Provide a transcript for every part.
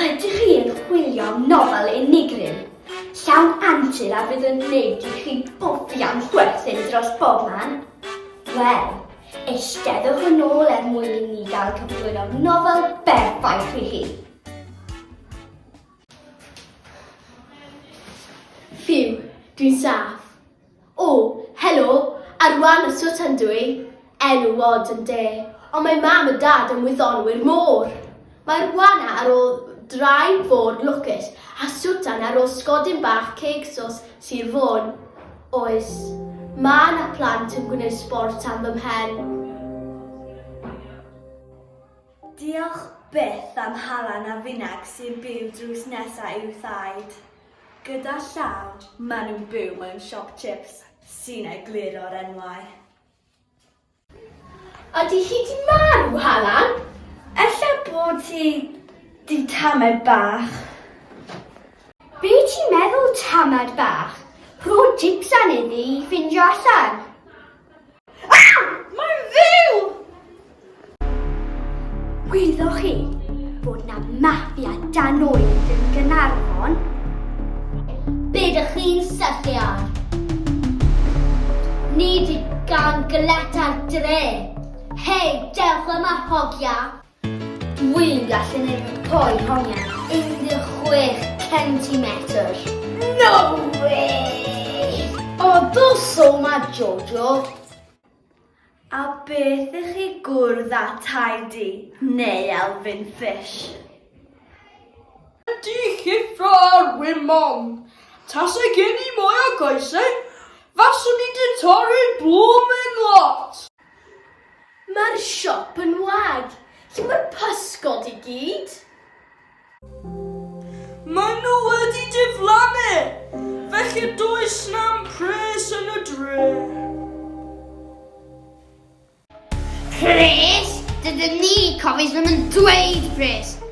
Ydych chi yn chwilio am nofel unigryw, llawn antur a fydd yn gwneud i chi bobi am chwerthin dros bobman? Wel, eisteddwch yn ôl er mwyn i ni gael cyflwyno nofel berffaith i chi. Ffiw, dwi'n saff. O, helo, ar wan y swt yn dw i, enw wod yn de, ond mae mam a dad yn wyddonwyr môr. Mae'r wana ar ôl drai fôr lwcus a swtan ar ôl sgodyn bach ceg sos Sir Fôn. Oes, mae na plant yn gwneud sbort am fy mhen. Diolch byth am hala na finag sy'n byw drws nesa i'w thaid. Gyda llaw, maen nhw'n byw mewn siop chips sy'n egluro'r enwau. Ydy hi 'di marw, Halan? Ella bod hi 'di tamed bach. Be ti'n meddwl tamed bach? Rho jics arni ddi i ffindio allan. Gwyddoch chi bod na mafia dan oed yn Gynarfon? Be dych chi'n syllu ar? Nid i gan gyleta'r dre. Hei, dewch yma hogia! Wy'n gallu neud poen hongian 16 centimetr. No way! O, do so ma Jojo. A beth i chi gwrdd â Tidy neu Elfyn Fish? Ydy llyfra ar win mom. Tase gen i mwy o goesau, faswn i di torri blwmin lot! Mae'r siop yn wag. Lle mae'r pysgod i gyd? Maen nhw wedi diflannu, felly does na'm pres yn y dre. Pres? Dydyn ni Cofies ddim yn dweud pres.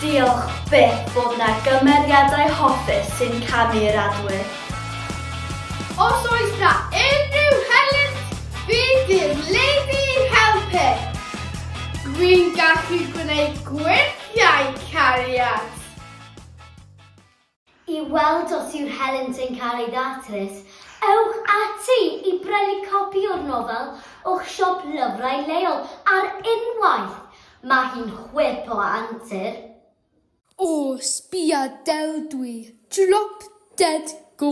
Diolch byth bod 'na gymeriadau hoffus sy'n camu i'r adwydd. Os oes 'na unrhyw helynt, bydd dim lady i'n helpu. Dwi'n gallu gwneud gwerthiau cariad. I weld os yw'r helynt yn cael ei ddatrys, ewch ati i brynu copi o'r nofel o'ch siop lyfrau leol ar unwaith! Mae hi'n chwip o antur. O, sbia Del dwi, drop dead gorgeous.